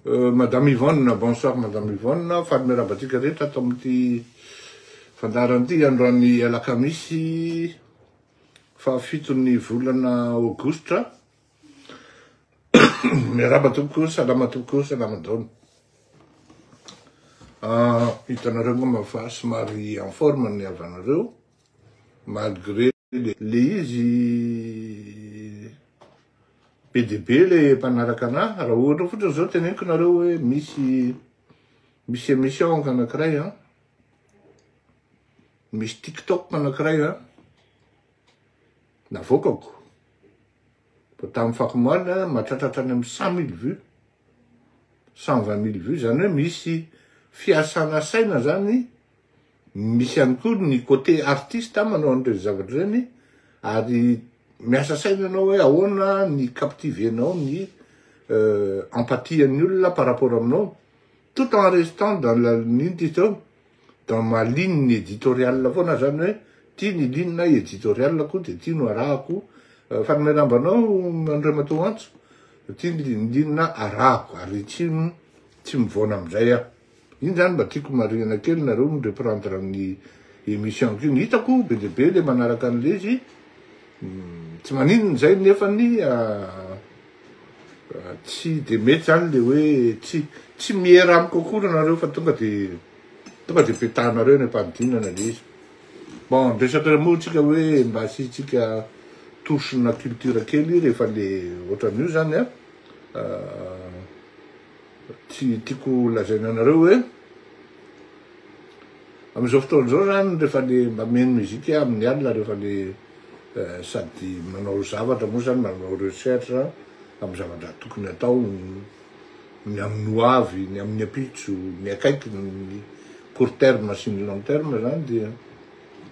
Madame Yvonne, bonsoir Madame Yvonne, faly miarahaba antsika rehetra ato amin'ity fandaharana ity androany alakamisy fahafiton'ny volana aogositra, miarahaba tompoko, salama tompoko, salama daoly. Ah, hitanareo angamba fa somary en forme ny havanareo malgré le izy be de be le mpanaraka anah raha ohatra fotriny zao teneniko nareo hoe misy misy emission anakiray an misy tiktok anakiray an navoakako vao tamin'ny fako omaly an mahatratra hatrany amin'ny cent mille vue cent vingt mille vue zany hoe misy fiasana saina zany Misy ihany koa ny côté artiste manao an'ireny zavatra ireny ary miasa saina ianao hoe ahoana ny captiver-nao ny empathie-n'ny olona par rapport aminao tout en restant dans la inona ty zao dans ma ligne éditoriale foana zany hoe ty ny ligne éditoriale-ko de ty no arahako Fanomerambe anao Andriamatoa Antso ty ny ligne arahako ary tsy mivaona amin'izay aho. Iny zany mba tiako marihina kely nareo no reprendre an'i emission-ko iny. Hitako be dia be le manaraka an'le izy, tsy maninona izay nefany tsy dia mety zany le hoe tsy tsy miera amiko akory nareo fa tonga de tonga de petahanareo any am-panidinana le izy. Bon, ny resaka moa tsika hoe mba asiantsika touche-na culture kely rehefa le ohatran'io zany an. Tsy tiako lazaina anareo hoe amin'izao fotoana izao zany rehefa le mba mihaino musique amin'ny alina rehefa le sady manao zavatra moa zany manao recherche amin'ny zavatra tokony atao ny amin'ny ho avy, ny amin'ny ampitso, ny akaiky ny court terme sy ny long terme zany dia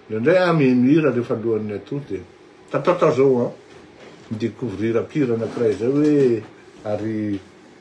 indraindray aho mihaino hira rehefa alohan'ny atoa dia tatatao zao an mi-découvrir mpihira anankiray zay hoe ary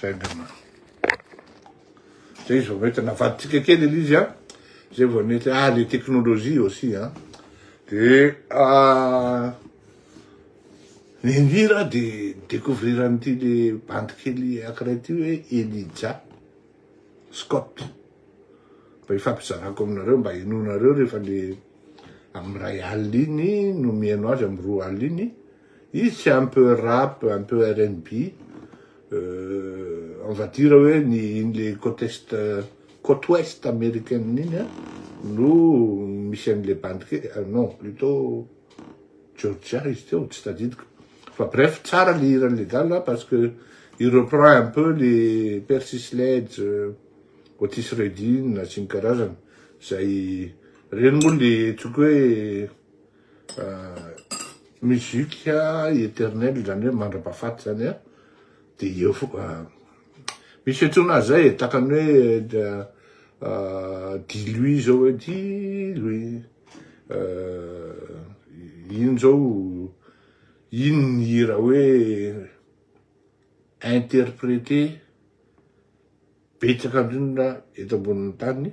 Zay angamba. Zay vao mety navadintsika kely ilay izy a. Zay vao mety ah le teknolojia aussi a. De ah ny hira de découvrir an'ity le bandy kely akiray ty hoe Elija Scott. Mba ifampizarako aminareo mba henonareo rehefa le amin'ny ray alina iny no mihaino azy amin'ny roa alina iny. Izy tsy un peu rap, un peu rnb, on va dire hoe ny iny le côte est, côte ouest américaine iny an, no misy an'le bandy kely, non plutot Georgia izy teo, tsy tadidiko. Fa bref, tsara le hiran'le gala parce que il reprend un peu le Percy Sledge, Otis Redding sy ny karazany, zay, reny moa le tsoiko hoe, Musique eternelle izany hoe mandrapahafaty izany an, dia eo foana, misy fiantsoana azy izay e, tahaka ny hoe dit lui izao hoe dit lui, iny izao, iny ny hira hoe interpréter betsaka indrindra eto ambonin'ny tany.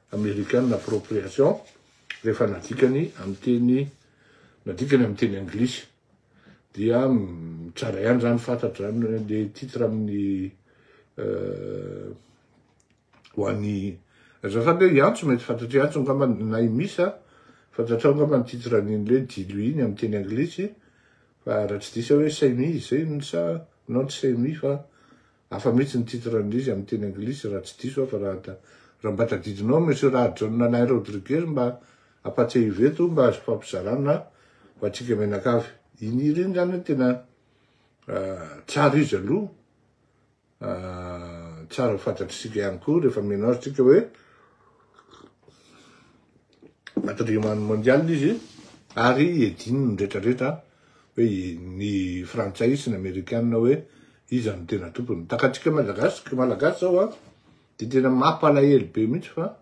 American Appropriation rehefa nadikany amin'ny teny nadikany amin'ny teny anglisy dia tsara ihany izany fantatra izany hoe le titre amin'ny ho an'ny azafady hoe i Antso mety fantatr'i Antso angamba na i Misa fantatrao angamba ny titre an'iny hoe Dilo iny amin'ny teny anglisy fa raha tsy diso aho hoe Saimi izay iny sa non tsy Saimi fa Hafa mihitsy ny titran'izy amin'ny teny anglisy raha tsy diso aho fa raha ta raha mba tadidinao Monsieur Rahajaona Alain Rodriguez mba ampatsiahivo eto mba azo ifampizarana ho antsika mianakavy. Iny hira iny zany tena tsara izy aloha tsara ho fantatr'isika ihany koa rehefa mianao tsika hoe Patrimoine mondial izy ary edin'ny retraretra hoe ny frantsay sy ny amerikana hoe iza no tena tompony. Takatsika malagasy malagasy zao a de tena mampalahelo be mihitsy fa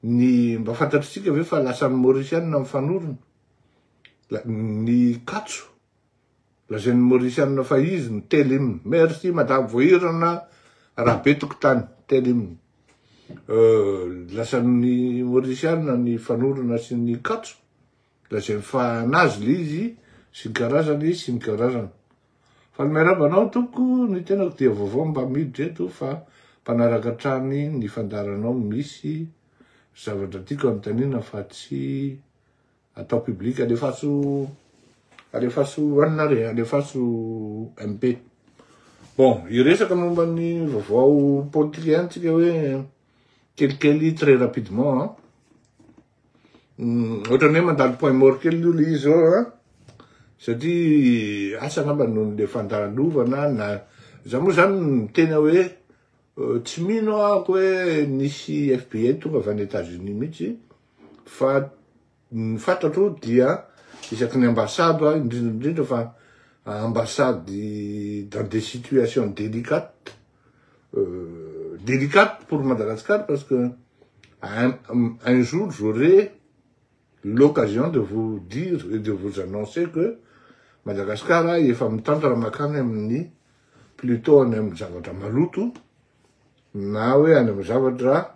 ny mba fantatritsika ve fa lasan'ny maorisianina mifanorona ny katso Lazain'ny Mauricianina fa izy no telo hymne. Merci madame Voahirana Rabe Tokotany, telo hymne. Euh, lazain'ny Mauricianina ny fanorona sy ny katso, lazainy fa anazy le izy sy ny karazany sy ny karazany. Fa miarahaba anao tompoko, ny tenako dia vaovao mba miditra eto fa mpanaraka hatrany ny fandaharanao misy zavatra tiako anontaniana fa tsy atao public alefaso alefaso anona re alefaso MP bon hiresaka momba ny vaovao politika ihany tsika hoe kelikely très rapidement hein hmm, ohatrany hoe mandalo point mort kely io le izy eo hein satria asa angamba noho ny le fandalovana na za moa zany miteny hoe euh, tsy mino ako hoe nisy FBI tonga avy any États-Unis mihitsy Fa ny fantatro dia isaky ny ambassade aho indrindra indrindra fa ambassade dans des situations délicates délicate pour Madagascar parce que un, un jour j'aurai l'occasion de vous dire et de vous annoncer que Madagascar a efa mitantana makany amin'ny plutôt any amin'ny zavatra maloto na hoe any amin'ny zavatra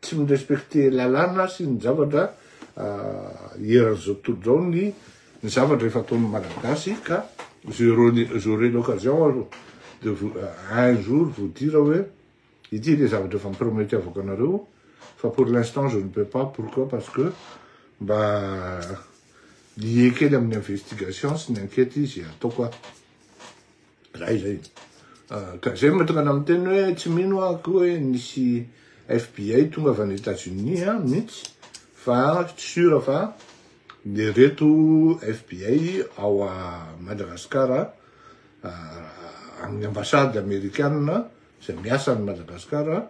Tsy mi-respecter lalàna sy ny zavatra eran'izao tontolo izao ny ny zavatra efa ataon'ny Malagasy ka j'aurai l'occasion de vous un jour vous dire hoe ity le zavatra efa mi-prometevako anareo fa pour l'instant je ne peux pas pourquoi parce que mba lié kely amin'ny investigation sy ny enquête izy ataoko aho. Zay zay. Ka zay mahatonga anah miteny hoe tsy mino aho akory hoe nisy FBI tonga avy any Etats Unis an mintsy fa tsy sûr fa ireto FBI ao à Madagascar amin'ny ambassade amerikana izay miasa any Madagascar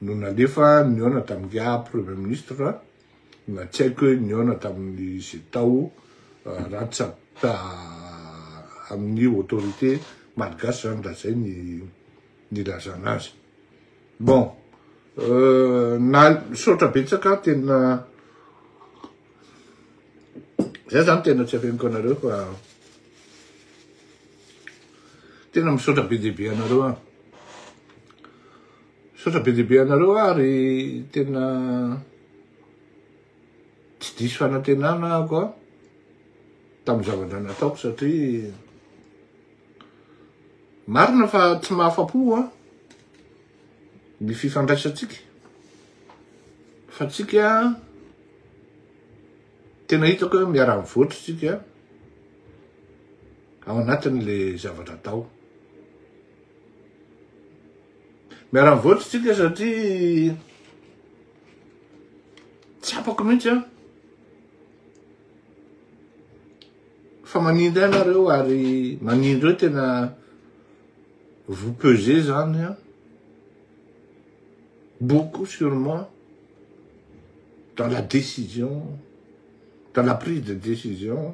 no nalefa nihaona tamin'ingahy premier ministre Na tsy haiko hoe nihaona tamin'ny izay tao raha tsy avy amin'ny autorité malgache izany raha izay ny nilazana azy. Bon, na misaotra betsaka tena zay izany tena tsy afeniko anareo fa tena misaotra be dia be anareo an. Misaotra be dia be anareo ary tena tsy diso fanantenana ako a tamin'ny zavatra nataoko satria marina fa tsy mahafapo a ny fifandraisantsika fa tsika tena hitako hoe miara-mivoatra tsika ao anatin'le zavatra atao. Miara-mivoatra isika satria tsapako mihitsy an fa manindry anareo ary manindry eo tena vous pesé zany an beaucoup sur moi dans la décision dans la prise de décision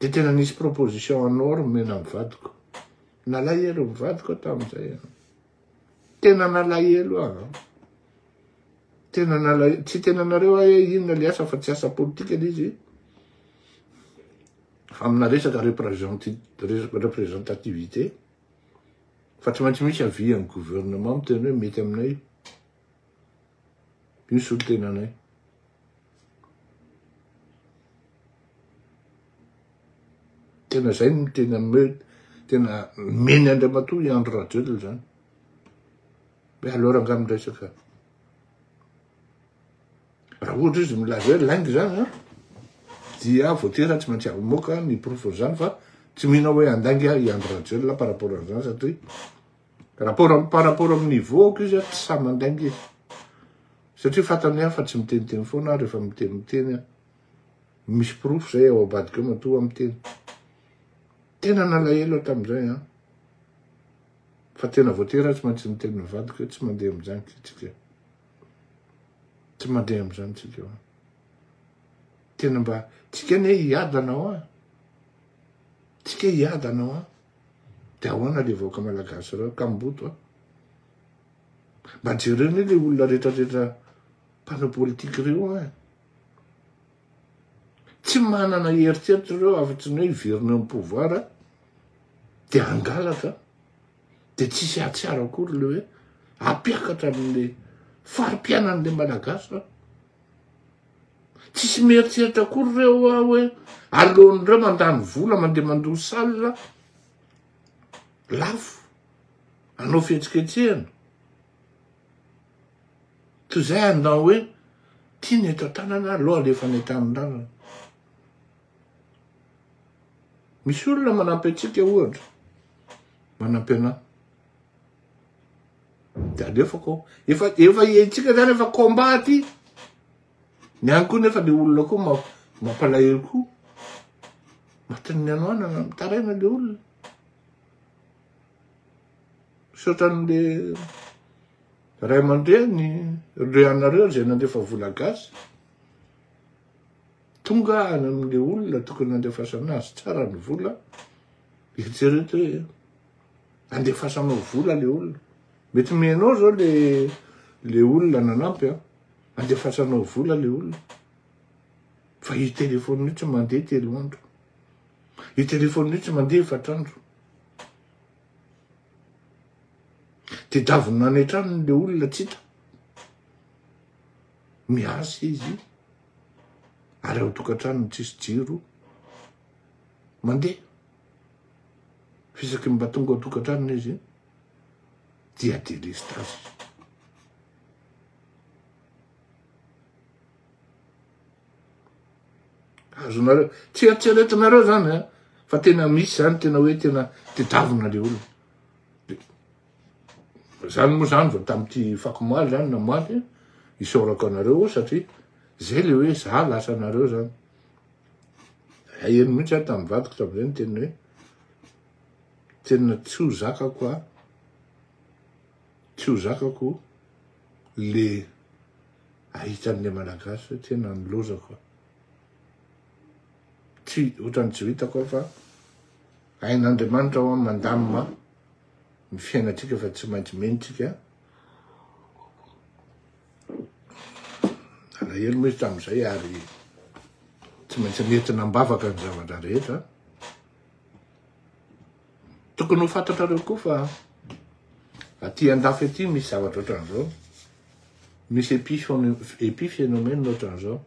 Dia tena nisy proposition en or nomena amin'ny vadiko. Nalahelo ny vadiko aho tamin'izay. Tena nalahelo aho. Ah. Tena nalahelo. Tsy tena nareo aho hoe inona ilay asa fa tsy asa politika ilay izy. Amina resaka représentativité. Fa tsy maintsy misy avis amin'ny gouvernement miteny hoe mety aminay. Io solontenanay. Tena zay no tena me tena meny Andriamatoa i Andry Rajoelina zany. Be alora angah miresaka. Raha ohatra izy milaza hoe lainga zany an, dia voatera tsy maintsy amoaka ny porofony zany fa tsy mino hoe handainga i Andry Rajoelina par rapport an'izany satria Rapport, par rapport amin'ny niveau-ko izy tsy sahy mandainga izy. Satria fantany hoe aho fa tsy miteniteny foana aho rehefa miteny miteny aho. Misy porofo zay ao abadika ao matoa aho miteny. Tena nalahelo aho tamin'izay an. Fa tena voatery aho tsy maintsy niteny ny vadiko hoe tsy mandeha amin'izany tsika. Tsy mandeha amin'izany tsika. Tena mba tsika anie hiadana hoa. Tsika hiadana hoa. De ahoana le vahoaka malagasy reo kamboto a. Mba jereo anie le olona rehetra rehetra mpanao politique reo a. Tsy manana eritreritra reo afa tsy ny hoe hiverina eo am pouvoir de hangalatra de tsisy hahatsiaro akory le hoe hampiakatra anle fari-piainanle malagasy reo. Tsisy mieritreritra akory ireo hoa hoe aleon'ireo mandany vola mandeha mandoa salle lafo hanao fihetsiketsehana toy izay hanao hoe ity ny eto an-tanana aleo alefa any an-tanindrazana. Misy olona manampy antsika ohatra, manampy anà. De alefako ao. Efa efa hiaintsika zany efa combat aty. Ny any koa nefa le olona koa mampalahelo koa. Matin'ny hanoanana mitaraina le olona. Misaotra an'le ray aman-dreny ireo anareo izay nandefa vola gasy. Tonga any amin'le olona tokony nandefasana azy tsara ny vola. Eritrereto hoe andefasanao vola le olona mety me anao zao le le olona nanampy a andefasanao vola le olona fa i telefony mihitsy mandeha telo andro i telefony mihitsy mandeha efatrandro de davina any an-tranony le olona tsy hita miasa izy ary ao tokantranony tsisy jiro mandeha Fa isaky ny mba tonga ao an-tokantranony izy dia delestazy. Azonareo, tsy eritreretinareo zany eh, fa tena misy zany tena hoe tena tedavina le olona. Zany moa zany vao tamin'ity fakomaly zany na maty isaorako anareo satria zay le hoe za lasa anareo zany. Haheno mihitsy aho tamin'ny vadiko tamin'izay ny teniny hoe tena tsy ho zakako aho, tsy ho zakako le ahita an'ilay malagasy hoe tena nilaozako aho. Tsy ohatran'ny tsy ho hitako aho fa hain'Andriamanitra hoa mandamina ny fiainantsika fa tsy maintsy mendrika. Alahelo moa izy tamin'izay ary tsy maintsy nentina am-bavaka ny zavatra rehetra. Tokony ho fantatrareo koa fa aty an-dafy aty misy zavatra ohatran'izao. Misy épiphénomène ohatran'izao.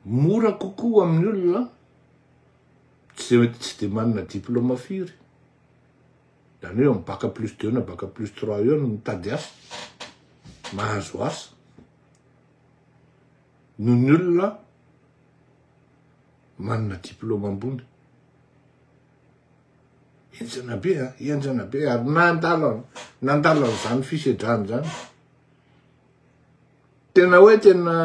Mora kokoa amin'ny olona tsy dia manana diplaoma firy Zany hoe am bac plus deux na bac plus trois eo no mitady asa, mahazo asa, noho ny olona manana diplôme ambony. Henjana be a, henjana be ary nandalo nandalo an'izany fisedrana izany. Tena hoe tena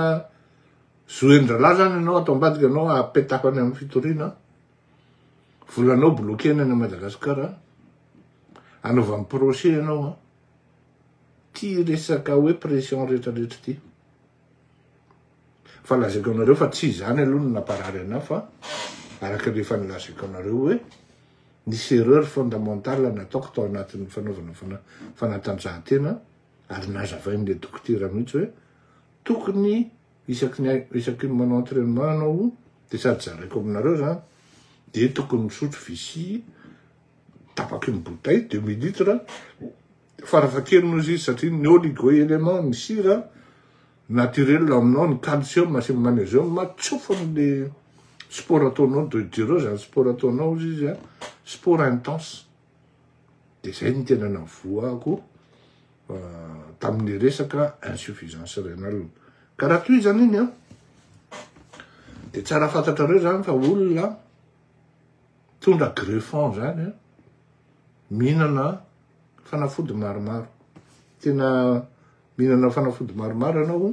zoen-drahalahy zany ianao ato ambadika ianao apetako any amin'ny fitoriana. Volanao bloquena any Madagascar a. Anaovany procès ianao a. Ty resaka hoe pression rehetra rehetra ty. Fa lazaiko anareo fa tsy izany aloha no namparary anah fa araka ny efa nilazaiko anareo hoe nisy erreur fondamentale nataoko tao anatin'ny fanaovana fana fanatanjahantena ary nazavain'le dokotera mihitsy hoe tokony Isaky ny isaky ny manao entraînement anao de sady zaraiko aminareo zany de tokony misotro vici tapaky ny bouteille deux mille litres farafahakeliny ozy izy satria ny oligo élément ny sira naturel ao aminao ny calcium sy ny magnesium matsofa amle sport ataonao de dureo zany sport ataonao ozy izy sport intense de zay no tena navoahako tamin'ny resaka insuffisance rénale ka raha toy zany iny a de tsara fantatrareo zany fa olona tondra greffon zany a mihinana fanafody maromaro tena mihinana fanafody maromaro ianao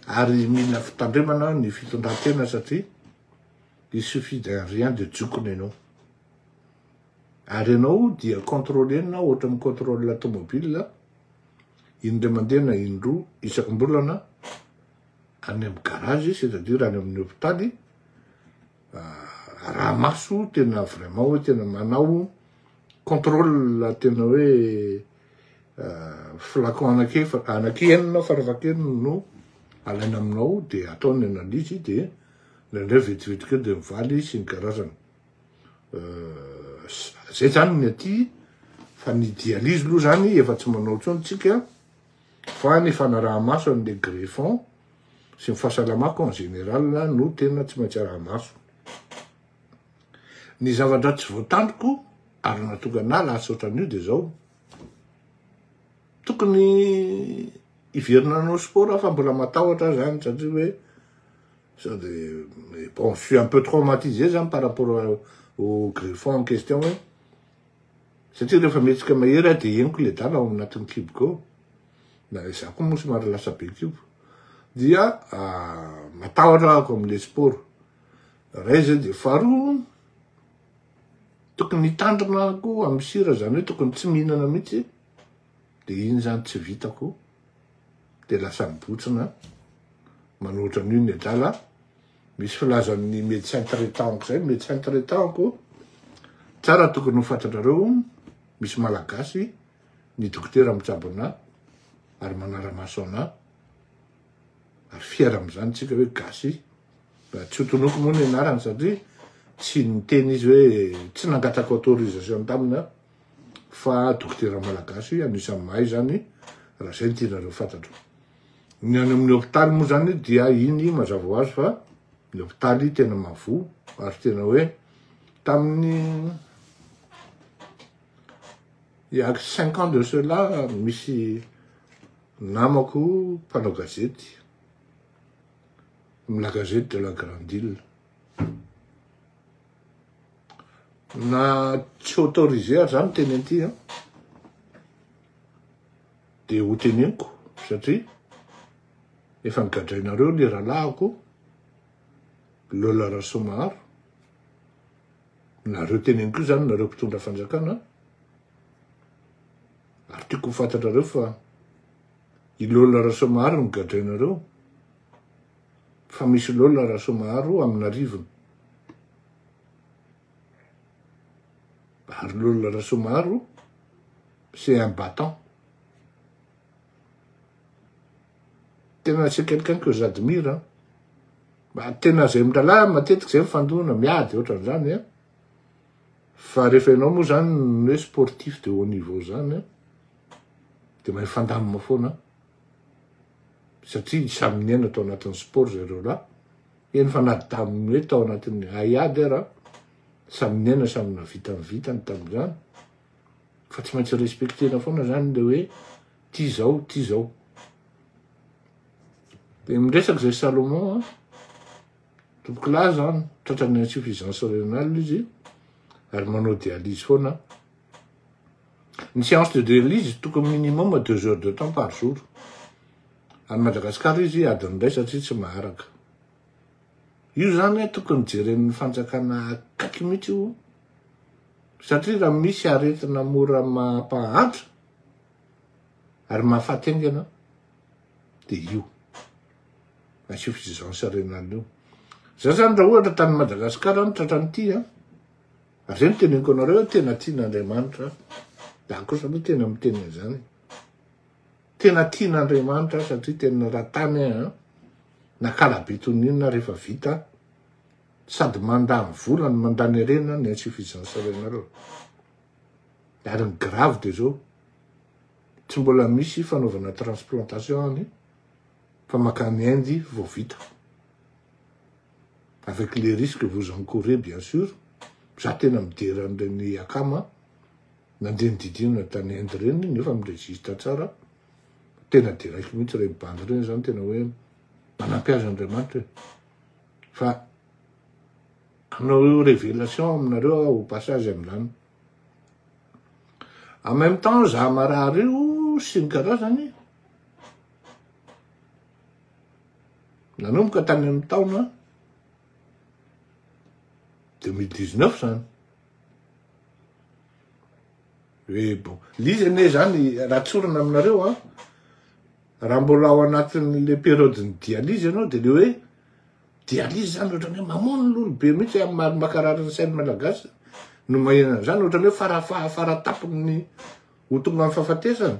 ary mila fitandremana ny fitondran-tena satria il suffit d'un rien de jokona ianao Ary ianao dia contrôle-na ohatran'ny contrôle tomobile indray mandeha na indroa isam-bolana any amin'ny garage c'est-à-dire any amin'ny hopitaly araha-maso tena vraiment hoe tena manao contrôle tena hoe flacon anakiefatra anakienina farafahakeliny no alaina aminao dia atao ny analyse dia indraindray vetivetika eo dia mivaly sy ny karazany. Zay zany ny aty fa ny dialyse aloha zany efa tsy manao intsony tsika fa ny fanaraha-maso an'le greffon sy ny fahasalamako en général no tena tsy maintsy araha-maso. Ny zavatra tsy voatandriko ary nahatonga anah lasa ohatran'io de zao, tokony hiverina hanao sport aho fa mbola matahotra aho zany satria hoe. Sao de, mais bon, je suis un peu traumatisé zany par rapport au griffon en question hoe, satria rehefa mihetsika mahery aho de henoko le dala ao anatin'ny kiboko ao, na izaho koa moa somary lasa be kibo, dia matahotra ako amin'le sport, ray zay de faharoa, tokony hitandrina koa amin'ny sira, zany hoe tokony tsy mihinana mihitsy, de iny zany tsy vitako de lasa mibotsina manao ohatran'io ny adala misy filaza amin'ny médecin traitant zay médecin traitant ko tsara tokony ho fantatrareo misy malagasy ny dokotera mitsabo anà ary manara-maso anà ary fiera amin'izany tsika hoe gasy raha tsy hotonoko moa ny anarany satria tsy niteny izy hoe tsy nangataka autorisation tamina fa dokotera malagasy anisan'ny mahay izany raha izay no tianareo fantatro. Ny any amin'ny hôpitaly moa izany dia iny mazava ho azy fa ny hôpitaly tena mavoa ary tena hoe tamin'ny ya cinq ans de cela misy namako mpanao gazety amin'ny la gazety de la grande île Na tsy autorisé ary zany miteny an'ity an, dia ho teneniko satria efa nogadrainareo ny rahalahiko Lola Rasoamaharo, nareo teneniko io zany nareo mpitondra fanjakana an, ary tiako ho fantatrareo fa i Lola Rasoamaharo no gadrainareo. fa misy lola Rasoamaharo amin'arivony. Ary lola Rasoamaharo c'est un battant. Tena c'est quelqu'un que j'admire an. Mba tena zay miralahy matetika zay mifandona miady ohatran'izany an. Fa rehefa ianao moa zany ny hoe sportif de haut niveau zany an dia mahay fandamina foana an. satria samy niaina tao anatin'ny sport zareo lahy, eny fa na tamin'ny hoe tao anatin'ny haiady ara, samy niaina samy nahavita ny vitany tamin'izany, fa tsy maintsy respecter-na foana zany le hoe ty zao ty zao. De miresaka zay Salomon an, tompoko lahy zany tratran'ny insuffisance rénale izy ary manao dialyse foana, Ny séance de drill izy tokony minimum deux heures de temps par jour. Any Madagascar izy adiny iray satria tsy maharaka. Io zany tokony jeren'ny fanjakana akaiky mihitsy io satria raha misy aretina mora mampahantra ary mahafaty aingana de io insuffisance rénale io. Za zany raha ohatra tany Madagascar any tratran'ity a Zay no teneniko anareo hoe tena tian'Andriamanitra ahy. Za kosa aloha tena miteny an'izany. Tena tian'Andriamanitra ahy satria tena raha tany ahy an, nakalabe toy ny inona rehefa vita aho. Sady mandany vola no mandany harena ny insuffisance renareo. Ary ny grave dia zao, tsy mbola misy fanaovana transplantation any fa mankany Inde vao vita. avec les risques que vous encourez bien sur, za tena midera an'ireny akama nandeha nididinana tany Inde ireny nefa mi-registre tsara, tena deraiko mihitsy ireny bandy ireny zany tena hoe manampy azy Andriamanitra e, fa hanao révélation aminareo aho au passage amin'izany. En même temps, za marary io sy ny karazany, Nanomboka tany amin'ny taona 2019 zany. Hoe bon, lizy anie zany raha tsorina aminareo an, raha mbola ao anatin'le periodin'ny dialyse ianao de le hoe dialyse zany ohatrany hoe mamono lolo be mihitsy amin'ny maha mankarary ny sain'ny malagasy no maheno an'zany, ohatrany hoe fara fara tapony ho tonga amin'ny fahafatesana.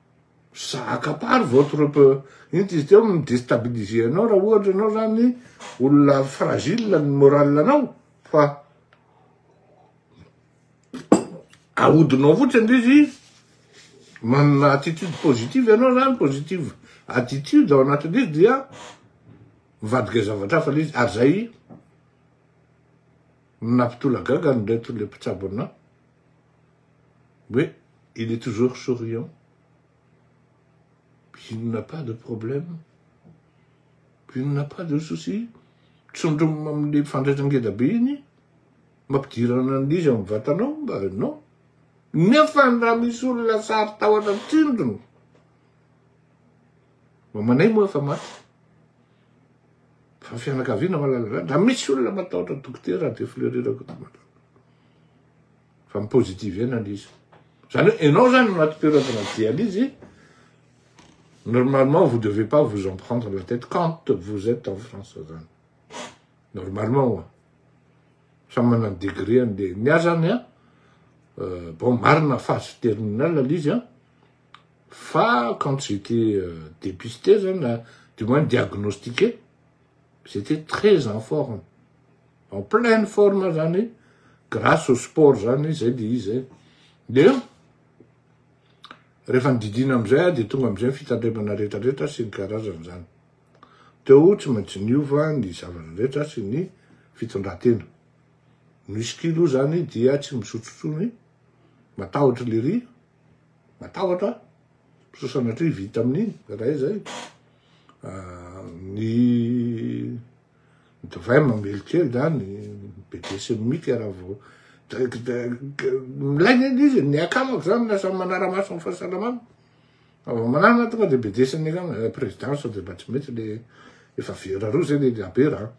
ça accapare votre inty izy teo mi-destabiliser anao raha ohatra ianao zany olona fragile ny moral anao fa ahodinao fotsiny ndry izy manana attitude positive ianao zany positive attitude ao anatin'izy izy dia mivadika zavatra hafa lay izy ary zay nampitolagaga ny reto le mpitsabo anao Oui, il est toujours souriant. Il n'a pas de problème. Il n'a pas de souci. Tsondromina amin'ilay fandraitra ngeda be iny, mampidirana an'ilay izy amin'ny vatanao mba non. Nefa raha misy olona sary tahotra tsindrona, mamanay moa efa maty, fa fianakaviana malala, raha misy olona matahotra dokotera dia fleurira koto malala. fa mi-positiver-na le izy. Zany hoe enao zany no anaty toeran-tena dialyse, normalement vous devez pas vous en prendre la tête quand vous êtes en France zany. Normalement oa. Samy manana degré an'le. Ny ahy zany a, euh, bon marina phase terminale le izy a, fa quand j'étais euh, dépisté zany, du moins diagnostiqué, Ils étaient très en forme. En pleine forme zany, grâce au sport zany, zay dia izy zay. Dia, rehefa nodidiana amizay, dia tonga amizay ny fitandremana rehetra rehetra sy ny karazany zany. Teo tsy maintsy niova ny zavatra rehetra sy ny fitondratena. Ny whisky aloha zany dia tsy misotro intsony, matahotra lery. Matahotra aho, sao sanatria vita amin'iny iray zay. Ah, ny divay mamely kely zany, be desemika raha vao milay ny izy, ny akamako zany lasa manara-maso ny fahasalamana. Vao manana tonga dia be desemika, présidence dia mba tsy mety le efa vera roa zay le labera.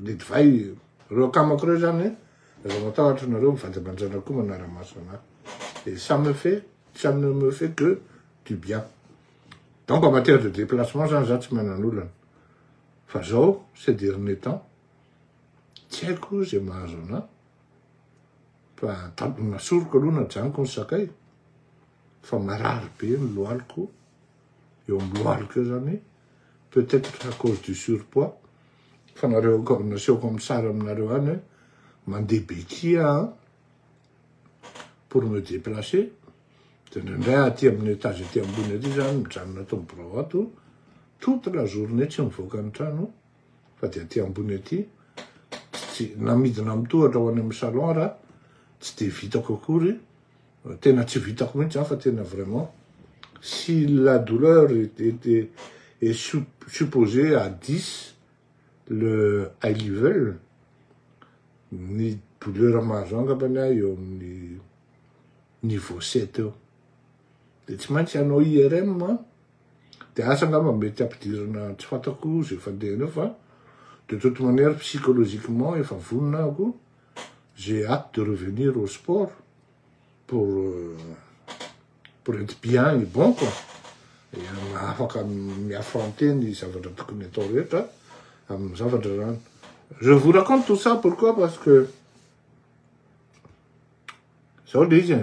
le divay reo akamako reo zany aza matahotra nareo mivanjabanjana koa manaramaso ana et ça me fait ça ne me fait que du bien donc en matière de déplacement zany za tsy manan'olana fa zao ces derniers temps tsy haiko zay mahazo ana fa tadiny nasoriko aloha najanoko ny sakay fa marary be ny lohaloko eo amin'ny lohalika eo zany peut être à cause du surpoids fa nareo aoka nasehoko amin'ny sary aminareo any hoe mandeha bequille aho pour me déplacer de indraindray aty amin'ny étage aty ambony aty zany mijanona ato amin'ny birao ato toute la journée tsy mivoaka ny trano fa de aty ambony aty tsy namidina amin'ny tohatra ho any amin'ny salon raha tsy de vitako akory Tena tsy vitako mihitsy zany fa tena vraiment si la douleur était est supposée à 10 le high level ny douleur mahazo ahy angambany aho eo amin'ny niveau 7 eo de tsy maintsy hanao IRM an de asa angamba mety ampidirina tsy fantako ze fandeha eo fa de toute manière psychologiquement efa vonona aho ko j'ai hate de revenir au sport pour pour être bien et bon quoi dia afaka mi-affronter ny zavatra tokony atao rehetra amin'ny zavatra zany je vous raconte tout ça pourquoi parce que zao le izy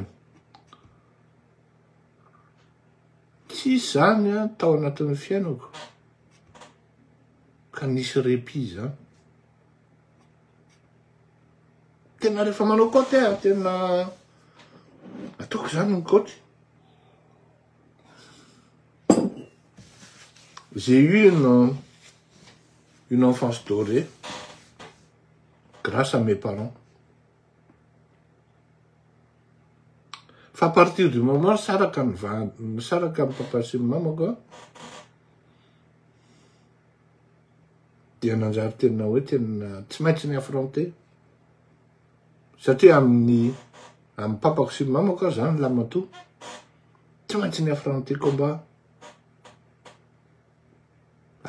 tsy zany a tao anatin'ny fiainako ka nisy répit zany Tena rehefa manao kaoty aho tena ataoko izany ny kaoty. J'ai eu une, une enfance dorée grâce à mes parents. Fa à partir du moment saraka ny va saraka ny papa sy ny mamako, dia nanjary tena hoe tena tsy maintsy ny affronter satria amin'ny amin'ny papako sy ny mamako aza zany lamatoa tsy maintsy ny affronter combat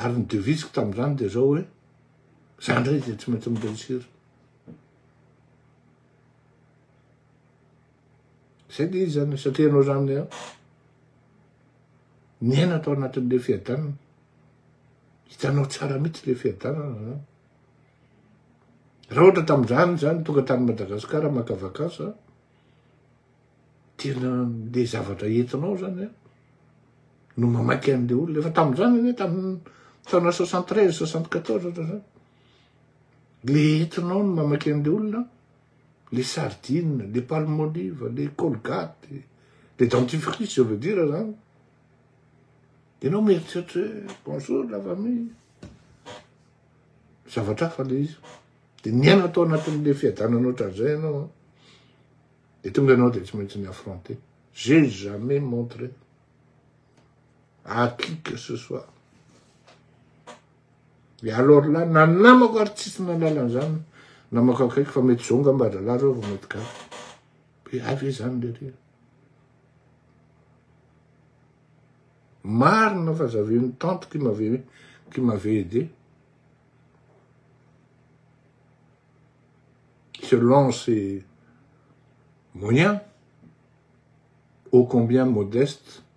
ary ny devise-ko tamin'izany dia zao hoe za ndray dia tsy maintsy mi-réussir Zay dia izy zany, satria ianao zany dia niaina tao anatin'ilay fiadanana. Hitanao tsara mihitsy ilay fiadanana zany. Raha ohatra tamin'izany zany tonga tany Madagasikara maka vakansa, tena le zavatra entinao zany a, no mamaky an'le olona. Efa tamin'izany anie tamin'ny taona soixante treize, soixante quatorze ohatra zany. Le entinao no mamaky an'le olona, le sardine, le palmolive, le colgate, le dentifrice je veux dire zany, ianao mieritreritra hoe bonjour la famille, zavatra hafa le izy, de miaina tao anatin'le fiadanana ohatran'izay ianao an, de tonga ianao de tsy maintsy mi-affronter, j'ai jamais montré à qui que ce soit Et alors là, na ny namako ary tsisy nahalala an'izany, namako akaiky fa mety zao ngamba rahalahy reo vao mety gaga. Hoe hay ve izany le reny? Marina fa j'avais une tante qui m'avait qui m'avait aidé. Selon ses moyens, ô combien modeste,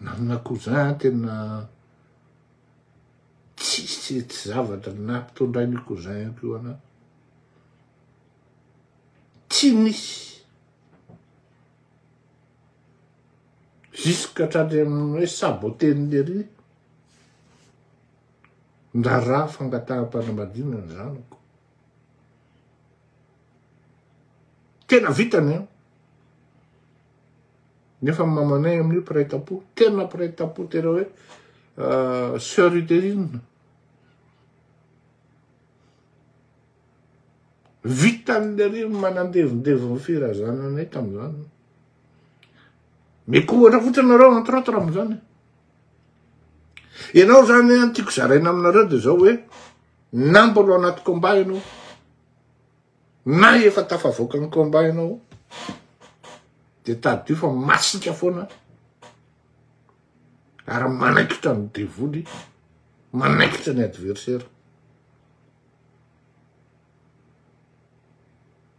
Nanana cousin tena tsisy tsy zavatra nampitondrain'io cousin io ko ana. Tsy nisy. Jusque hatrany amin'ny hoe saboter-n'i lery ny raharaha fangataham-panambadiana ny zanako. Tena vitany an. Nefa mamanay amin'io mpiray tampo, tena mpiray tampo tena hoe euh, sœur utérine. Vitan'ny ary manandevindeviny firazananay tamin'izany. Meko ohatra fotsiny nareo entre autres amin'izany. Ianao zany hoe tiako zaraina aminareo dia zao hoe na mbola ao anaty combat ianao na efa tafavoaka ny combat ianao dia tadidio fa masika foana ary manaikitra ny devoly manaikitra ny adversaire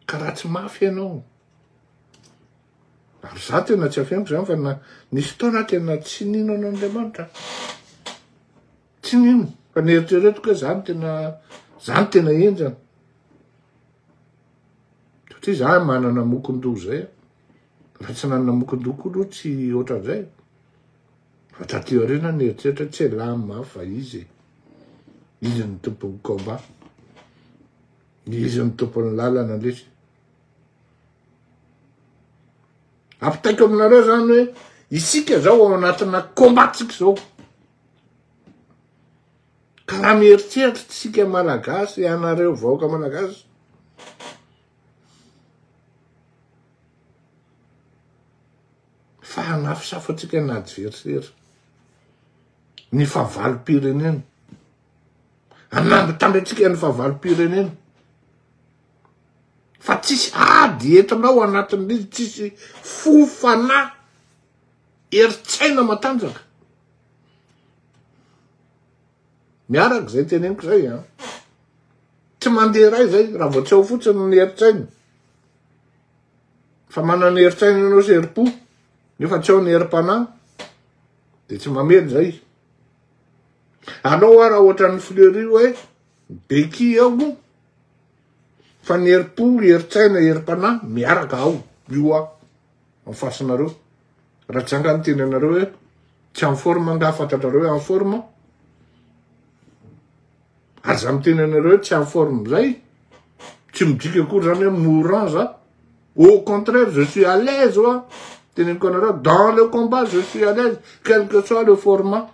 ka raha tsy mafy ianao Ary za tena tsy afeniko zany fa na nisy fotoana aho tena tsy nino an'Andriamanitra. Tsy nino fa neritreretiko hoe zany tena zany tena henjana. Satria za manana mokondoha zay. Na tsy nanana mokondoha koa aloha tsy ohatran'izay. Fa taty aoriana neritreritra tsy elam mafy fa izy e. Izy no tompon'ny combat. Izy no tompon'ny lalana lesy. Ampitaiko aminareo zany hoe isika zao ao anatina combat-tsika zao. Ka raha mieritreritra tsika malagasy, ianareo vahoaka malagasy, fa hanafosafotsika ny adversaire, ny fahavalom-pirenena, hanambitamby antsika ny fahavalom-pirenena. fa tsisy ady entina ao anatin'izy tsisy fo fanahy eritsaina matanjaka miaraka zay teneniko zay a tsy mandeha ray zay raha vao tsy ao fotsiny ny eritsaina fa manana eritsaina ianao sy herim-po nefa tsy ao ny herim-panahy de tsy mamely zay anao a raha ohatran'ny fleury hoe beki ao Fa ny herim-po, herin-tsaina, herim-panahy miaraka ao io aho en face nareo. Raha tsy angaha miteny anareo hoe tsy en forme angaha fantatrareo hoe en forme? Ary za miteny anareo hoe tsy en forme zay tsy midika akory zany hoe mourant za. Au contraire je suis à l'aise oa teneniko anareo dans le combat je suis à l'aise quel que soit le format.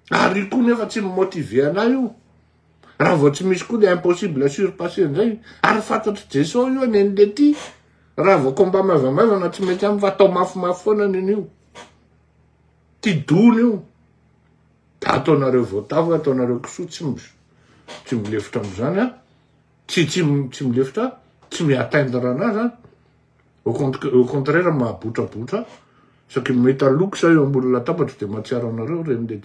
Ary io koa nefa tsy mi-motiver anah io. Raha vao tsy misy koa le impossible à surpasser indray. Ary fantatry Jeso io anie ny lety. Raha vao combat maivamaivana tsy mety aminy fa atao mafimafy foana anie ny io. Ty dony io. Da ataonareo voatavo, ataonareo kisoa tsy tsy milefitra amizany a. Tsy tsy tsy milefitra, tsy mi-atteindre anazy a. au contraire mahabotrabotra saky mahita loko sa eo ambony latabatra dia mahatsiaro anareo reny le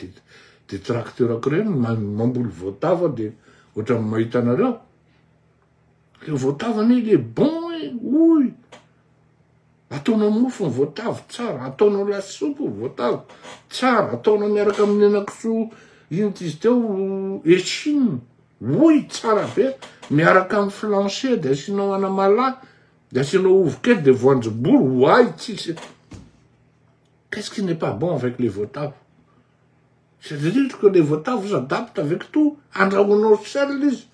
de tracteurako reny mamboly voatavo de ohatrany mahita anareo le voatavo anie le bon e oy ataonao mofo ny voatavo tsara ataonao lasopy ny voatavo tsara ataonao miaraka amin'ny henakisoa ino tizy teo echine oy tsara be miaraka amin'ny flancher de asianao anamalahy De asianao ovy kely de voanjobory ho ahy tsisy. Qu'est-ce qui n'est pas bon avec les voatavo? Je te dis que les voatavo s'adaptent avec tout. Andrahoinao seul izy.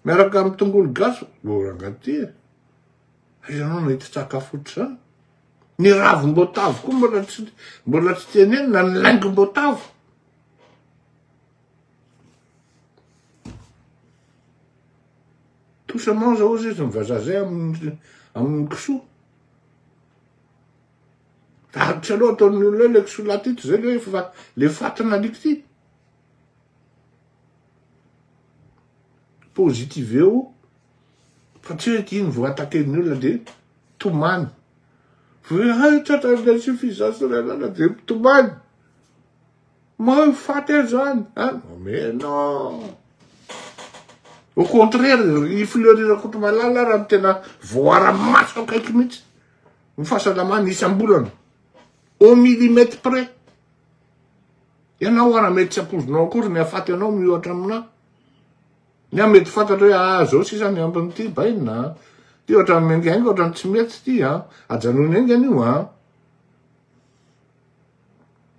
Miaraka amin'ny tongolo gasy, oh rangahy ty e. Ianao nahita sakafo ohatr'izany. Ny ravim-boatavo koa mbola tsy mbola tsy tenenina, ny laingom-boatavo. Tout ça mange ao zay zany vazaha zay amin'ny kisoa. Darotra loha ataon'ny olona ilay kisoa lahy ity zay le fa le fatina alika ity. Positive eo fa tsy hoe iny vao ataken'ny olona de tomany. Hoe hay tratra insuffisance rénale de tomany. Mahafaty an'izany an! Omena! Au contraire, i Fleury Rakotomalala ara no tena voara-maso akaiky mihitsy ny fahasalamany isam-bolana, au millimètre près. Ianao ara mety tsy ampoizinao akory ny hahafaty anao miohatra aminà. Ny ahy mety fantatra hoe ah zao sisa ny ambin'ity baina an! Ty ohatran'ny miaingainga, ohatran'ny tsy mety ty an! Ajanony aingana io an!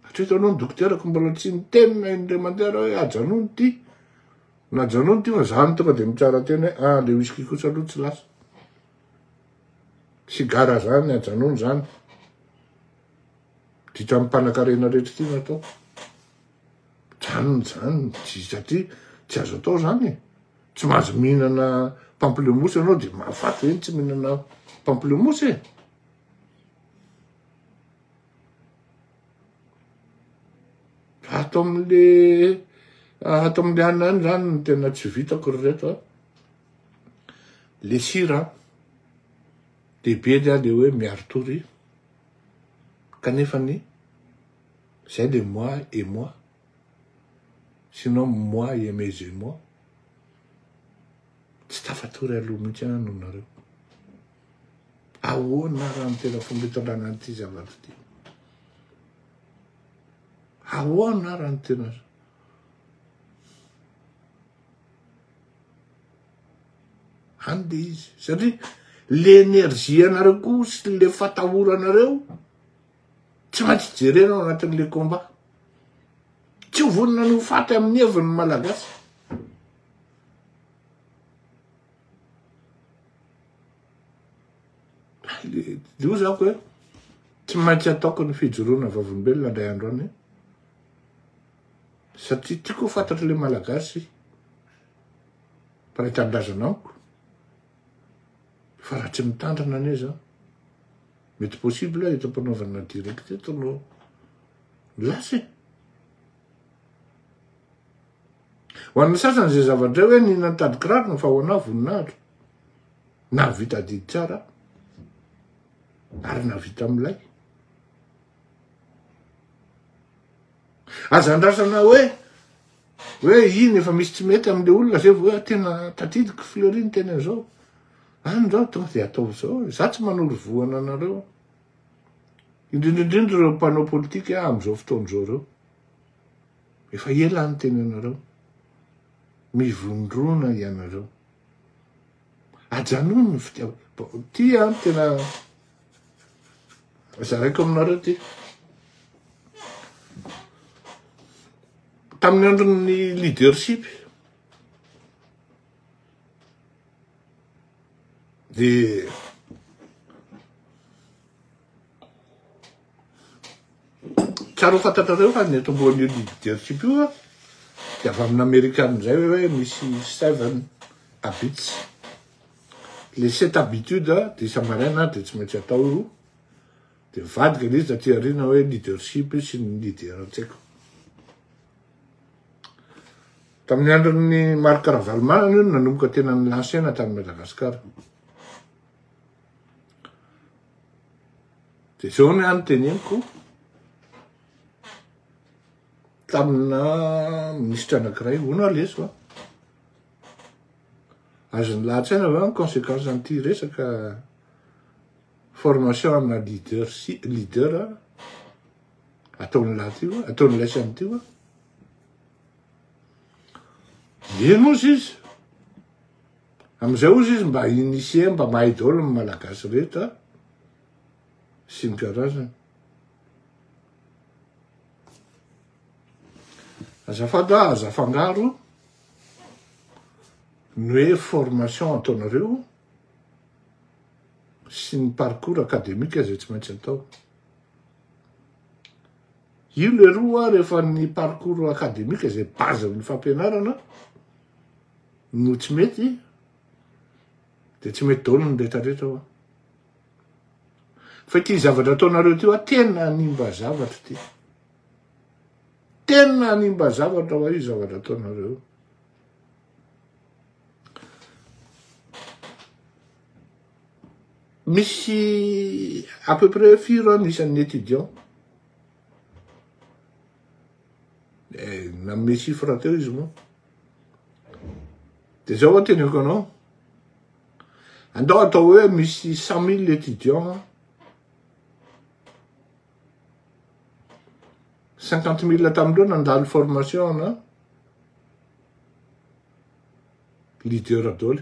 Hatreto aloha ny dokoterako mbola tsy niteny na indray mandeha raha hoe ajanony ity na ajanony ity fa zany tonga dia mitsara teny hoe ah le whisky kosa aloha tsy lasa sigara zany ajanony zany ditra amin'ny mpanakarena rehetra ity natao janony zany satria tsy azo atao zany e. tsy mahazo mihinana pamplemousse ianao dia mahafaty hoe tsy mihinana pamplemousse e Ato amin'le ato amin'le any any zany no tena tsy vitako ry reto a. Le sira lehibe le a le hoe miaritory kanefa ny zay le moi et moi sinon moi et mes et moi tsy tafatory aloha mihitsy aho noho nareo. Ahoana ary ny tena fomba hitondrana an'ity zavatra ity? Ahoana ary ny tena any dia izy satria le énergie anareo koa sy le fatahoranareo tsy maintsy jerena ao anatin'le combat tsy ho vonona ny ho faty amin'ny heviny malagasy Io zako hoe tsy maintsy ataoko ny fijoroana vavolombelona indray andro any satria tiako ho fantatry le malagasy mpanao tanindrazana amiko fa raha tsy mitandrina anie zany mety possible eto am-panaovana direct eto no lasa e. Ho an'ny sasany izay zavatra hoe ny nantady kiraro no fahoana voninahitra. Nahavita adidy tsara ary nahavita milay. Aza andrasana hoe hoe iny efa misy tsy mety amin'le olona zay vao hoe tena tadidiko fleury ny tena zao. Any zao tonga dia ataovy zao. Za tsy manoro vohana anareo. Indrindra indrindra ireo mpanao politika amin'izao fotoana izao ireo. Efa ela aho niteny anareo, mivondrona ianareo. Ajanony ny fitiavana. Ty an ah, tena zaraiko aminareo ty. Tamin'ny andron'ny leadership, dia Tsara ho fantatrareo fa ny eto ambonin'io leadership io dia avy amin'ny Amerikana indray hoe misy seven habits. Ilay sept habitudes dia isa-maraina dia tsy maintsy atao io, dia mivadika ilay izy taty aoriana hoe leadership io sy ny leader an-tsaiko. Tamin'ny andron'ny Marc Ravalomanana io no nanomboka tena nilansena tany Madagasikara. Dia zao ny ahy no teneniko, tamina minisitra anakiray, hono leso an! azony lahatsaina ve ny consequence an'ity resaka formation amina leadership, leader ataon'ilay ty va, ataon'ilay sy an'ity va? Eny ozy izy, Amizay ozy izy mba initier mba mahay daolo ny malagasy rehetra a! sy ny karazany. Azafady a, aza afangaro ny hoe formation ataonareo sy ny parcours academique zay tsy maintsy atao. Io leroa rehefa ny parcours academique zay base ny fampianarana, no tsy mety de tsy mety daolo ny retraretra hoa fa ty zavatra ataonareo ty hoa tena animba zavatra ty tena animba zavatra hoa io zavatra ataonareo misy à peu près firy an isan'ny étudiant eh, nanome chiffre teo izy moa De zao ho teneko anao, andao atao hoe misy cent mille étudiants, cinquante mille tamindreo nandalo formation ana leader daholo.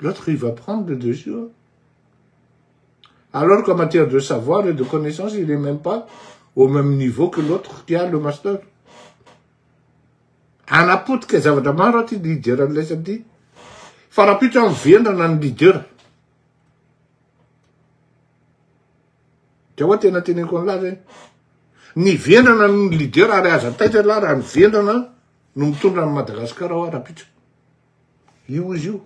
L'autre il va prendre le dessus. Hein? Alors qu'en matière de savoir et de connaissance, il n'est même pas au même niveau que l'autre qui a le master. Anapotika zavatra maro aty leader an'ilay samedi. Fa rapito amin'ny vendrana ny leader. Dia hoa tena teneko an'ilay zay. Ny vendrana ny leader ary aza taitra lahy raha ny vendrana no mitondra an'i Madagasikara ao ara-pitso. Io izy io.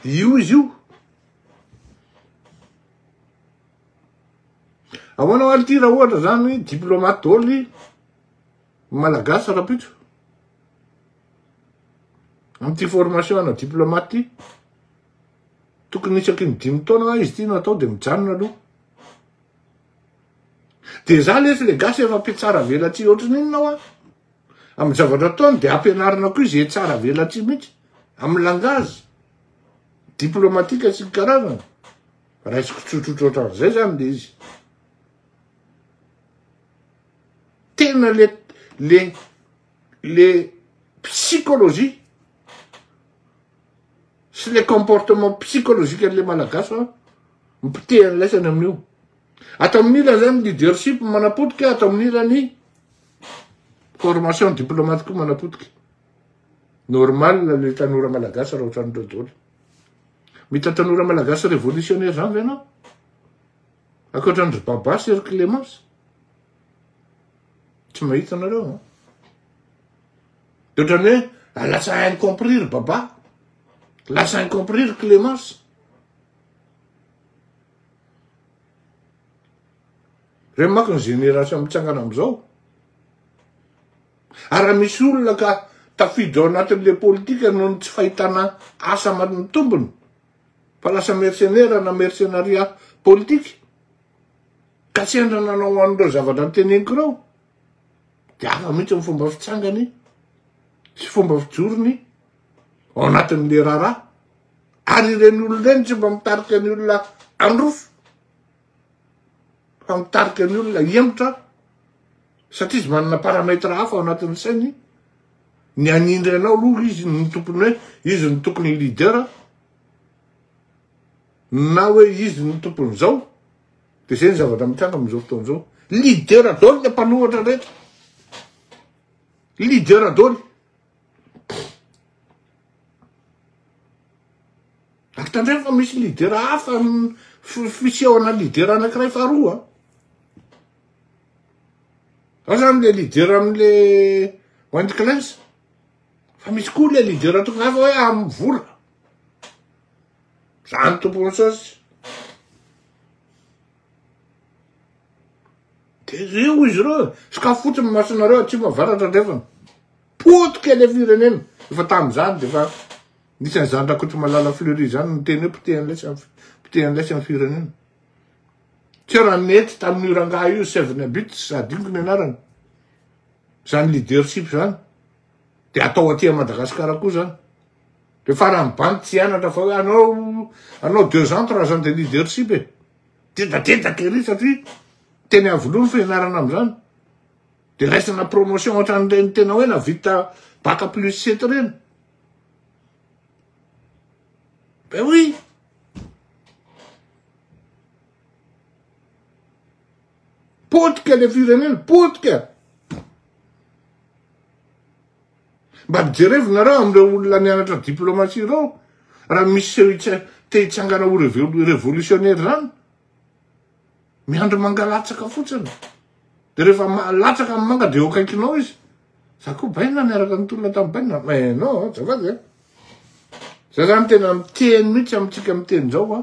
Io izy io. Ahoana ho alty raha ohatra zany diplomate dôly malagasy ara-pitso. Amin'ity formation ana diplomate ty. Tokony isaky ny dimy taona izy ty natao dia mijanona aloha. Dia za lesy le gasy efa mpitsara velatsihy ohatrany inona hoa? Amin'ny zavatra ataony dia ampianarina koa izay tsara velatsihy mihitsy amin'ny langage diplomatique sy ny karazany. Raisiko tsotsotra ohatran'izay zany le izy. Tena le le le psychologie sy le comportement psychologique an'le malagasy fa mpoteha ny laisany amin'io. Ato amin'ny ilany zany leadership manapotika, ato amin'ny ilany formation diplomate koa manapotika. Normal le tanora malagasy raha ohatran'ireo daholo. Mita tanora malagasy révolutionnaire zany ve ianao? Akoatra ny Baba sy Clémence. Tsy mahita anareo. De otrany hoe lasa incompris ry Baba. Lasa incompris ry Clémence. Re mako ny génération mitsangana amizao. Ara misy olona ka tafiditra ao anatin'le politika noho ny tsy fahitana asa amin'ny tombony fa lasa mercenaire na mercenariat politique. Ka sendra nanao an'ireo zavatra noteneniko ireo. de hafa mihitsy ny fomba fitsangany sy fomba fijorony ao anatin'le raharaha ary ireny olona ireny tsy mba mitarika ny olona androfo fa mitarika ny olona hiemotra satria izy manana paramètre hafa ao anatin'ny sainy ny anindry anao aloha izy ny tompony hoe izy ny tokony leader na hoe izy ny tompony zao Dia izay ny zavatra mitranga amin'izao fotoana izao. Leader daholo ilay mpanohatra rehetra. Leader daholo. Ary tandremo fa misy leader hafa fisehona leader anankiray faharoa. Ao zany le leader amin'le Wendy Clans. Fa misy koa le leader tonga hafa hoe amin'ny vola. Zany tompoko jesosy. De zay hoy izy ireo, sokafy fotsiny masonareo atsimo avaratra andrefana. Potika ilay firenena. Efa tamin'izany dia efa nisy an'i Zandrakotomalala Fleury izany niteny hoe poteha an'ilay sy poteha an'ilay sy ny firenena. Tsy raha nety tamin'io rangahy io Seven Habits, adinoko ny anarany. Izany leadership izany. De atao aty a Madagascar koa zany. De farany bandy tsy hianatra fa hoe anao anao deux ans trois ans de leadership e. Dedadedaka ery satria teny Iavoloha ny fianarana amizany. De raisina promotion ohatran'ireny tena hoe navita bac plus sept reny. Ben oui. Potika le firenena, potika! Mba mijerevo nareo amin'ireo olona nianatra diplomatie ireo, raha misy seho te hitsangana ho revolisiônera izany, miandry mangalatsaka fotsiny. Dia rehefa mahalatsaka amin'ny manga dia eo akaikinao izy. Za koa baina niaraka nitolona tamin'ny baina. Mais non, zafady e. Za zany tena miteny mihitsy amintsika miteny izao a.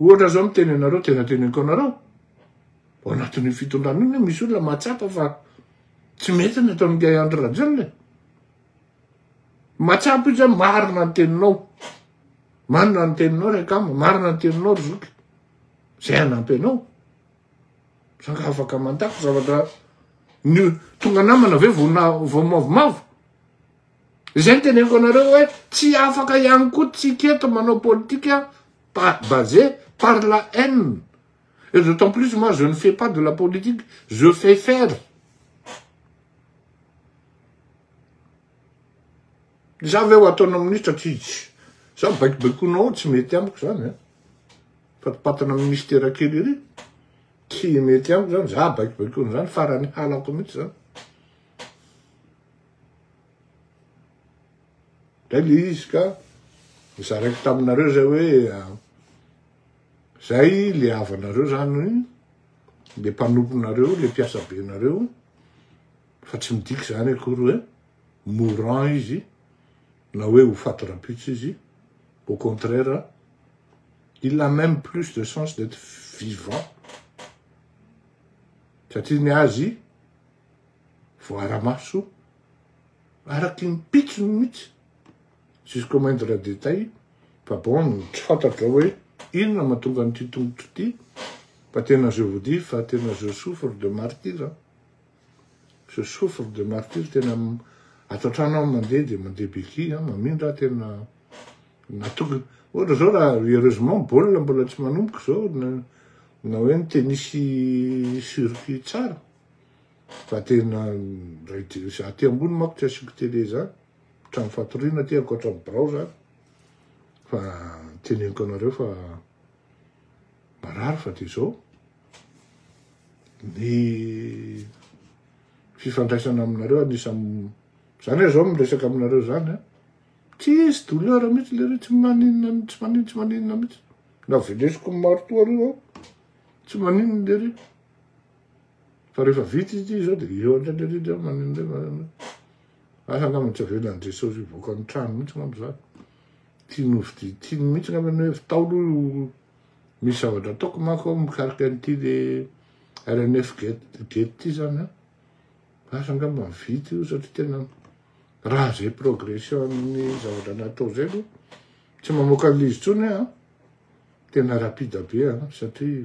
Ohatra zao miteny anareo tena teneniko anareo ao anatin'ny fitondrana iny misy olona mahatsapa fa tsy mety ny ataon'i Gay Andry Rajoelina e. Mahatsapa izy marina ny teninao. Marina ny teninao Rekama, marina ny teninao ry Zoky. Zay anampy anao. Sanga afaka mandako zavatra ny tonga namana ve vao mavomavo. Izay no teneniko anareo hoe tsy afaka ihany koa tsika eto manao politika basé par la haine. Et d'autant plus moi je ne fais pas de la politique, je fais faire. Za ve ho ataonao ministra tsy za baikobaikoinao tsy mety amiko zany eh. Fatipatana amin'ny mistera kely ery. Tsy mety amiko zany za baikobaikoina zany farany halako mihitsy zany. Zay le izy ka nizaraiko taminareo zay hoe zay le havanareo zany le mpanomponareo le mpiasa benareo fa tsy midika zany akory hoe mourant izy na hoe ho faty rampitso izy au contraire il a même plus de chance d'être vivant satria ny azy voaara-maso araky ny pitsony mihitsy juge comment de la détail fa bon tsy fantatrao hoe inona mahatonga an'ity tongotro ity fa tena je vous dis fa tena je souffre de martyr je souffre de martyr tena ato an-trano aho mandeha dia mandeha beky mamindra tena natonga ohatra zao raha heureusement baolina mbola tsy manomboka zao na hoe ny tenisy surki tsara Fa tena Raideus aty ambony manko tsy asiako télé zany, trano fatoriana aty ankoatra ny birao zany, fa teneniko anareo fa marary fa de zao, ny fifandraisana aminareo anisany, zany aho zao miresaka aminareo zany an, tsisy douleur mitsy lery tsy maninona tsy maninona tsy maninona mitsy, navelesiko ny maritoa reo aho, tsy maninona lery. Fa rehefa vita izy izao dia eo indrindra indrindra eo maneno indray maneno. Asa angamba tsy avelan'i Jesosy hivoaka ny trano mihitsy angamba izany. Tiany hovidia, tiany mihitsy angamba ny hoe tao aloha io misy zavatra ataoko manko aho mikarika an'ity le RNF gate gate ity izany an. Asa angamba mivita io satria tena raha izay progression amin'ny zavatra natao izay aloha tsy mamoaka an'izy intsony an. Tena rapide be an satria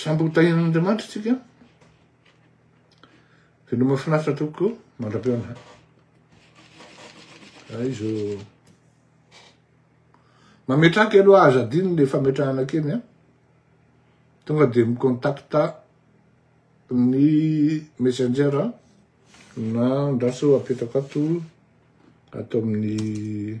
Samby ho tahian'Andriamanitra tsika. Tena mahafinaritra tokoa mandra-pihaona. Raha izy mametraka kely aloha aza adino le fametrahana kely a. Tonga dia mi-contacta ny messenger na andraso apetako ato ato amin'ny